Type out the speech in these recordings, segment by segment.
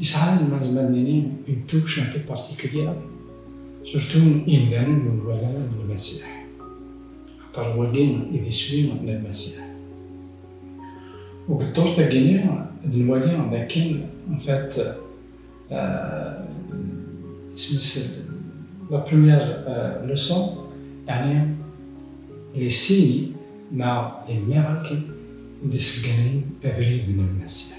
Yesɛa lmaz ma d-nini une touche un peu particulière, surtout imdanen ur nwala ara d Lmasiḥ, axaṭer wagi i d iswi n Lmasiḥ. Deg ddurt-agi-nni ad nwali d akken en fait isem-is la première leçon yeɛni les signes neɣ les miracles i d-isebganayen abrid n Lmasiḥ.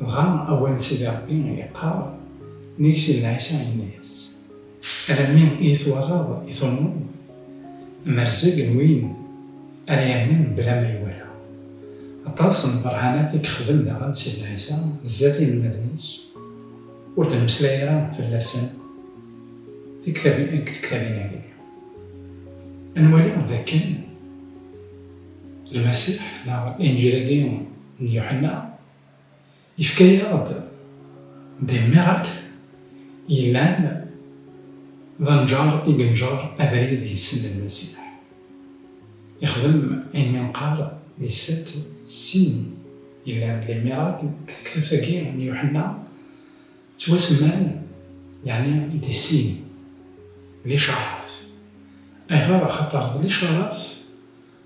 Dɣa awal Sidi Ṛebbi yeqqar, Mi yesel Ɛisa, yenna-yas, Alammi iyi-twalaḍ i turmeḍ? Amerzeg n win ara yamnen mebla ma iwala. Aṭas n lbeṛhanat i yexdem daɣen Sidi Ɛisa zdat yinelmaden-is, ur d-nemmeslay ara fell-asen deg tektabin-agi. Ad nwali dakken Lmasiḥ neɣ Linǧil-agi D Yuḥenna, yefka-yaɣ-d des miracles yellan, d anǧar i yenǧer abrid i ssem n Lmasiḥ. Ixdem ayen i neqqar les sept signes yellan, les miracles, deg tektabt-agi n Yuḥenna ttwasemman yeɛni des signes, licaṛat. Ayɣer? Axaṭer d licaṛat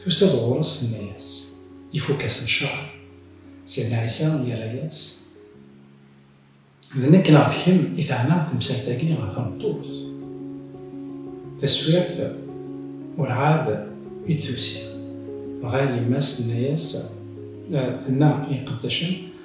Tusa-d ɣur-s tenna-yas, Ifukk-as lecraḥ. Sidna Ɛisa yerra-yas, D nekk neɣ d kemm i teɛna temsalt-agi ɣer tmeṭṭut? Taswirt urɛad i d-tusi, dɣa yemma-s tenna-yas, Tenna i iqeddacen,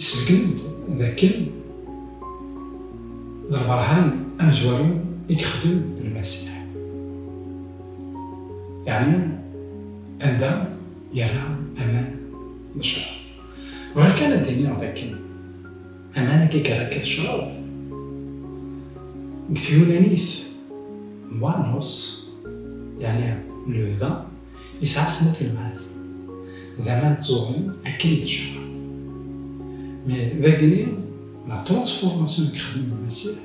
Isbeggen-d d akken d lberhan amezwaru i yexdem Lmasiḥ, yeɛni anda yerra aman d ccṛab. Bɣiɣ kan ad d-iniɣ d akken aman-agi yerra akka d ccṛab, deg tyunanit, moi'nos, yeɛni le vin. Yesɛa snat ilmad, d aman tẓurin akken d cṛab. Mais d agni, la transformation i yexdem Lmasiḥ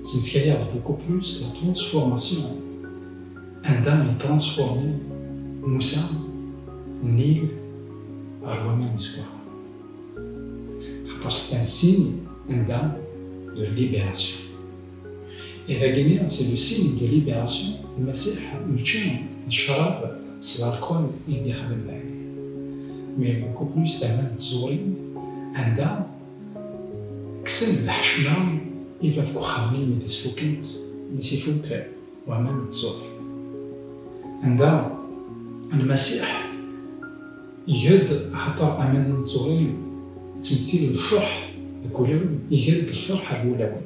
tettmetkayaɣ d beaucoup plus la transformation anda i transformer Musa, Nil, ɣer waman izeggaɣen. Axaṭer c'est un signe anda de libération. I dagini c'est le signe de libération Lmasiḥ mačči d ccrab s l'alcool i d-ixdem lɛid mais beaucoup plus tama n tẓurin anda kksen lḥecma i bab n uxxam-nni mi as-fukkent mi s-ifukk waman n tẓuri anda Lmasiḥ iger-d axaṭer aman-nni n tẓurin ttmettil lferḥ deg wulawen iger-d lferḥ ar wulawen.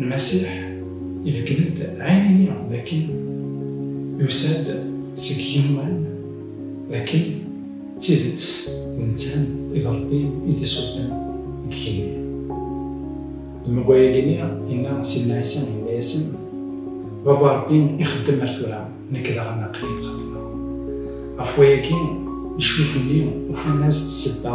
Lmasiḥ ibeggel-d ɛinini d akken yusa-d seg yigenwan, d akken d tidet d netta i d Rebbi i d-isuffɣen deg igenni. Dma n wayagi-nni, yenna Sidna Ɛisa, yenna-yasen, Baba Rebbi ixeddem ar tura, nekk daɣen aql-i xeddmeɣ. Ɣef wayagi, lecmux-nni ufan-as-d ssebba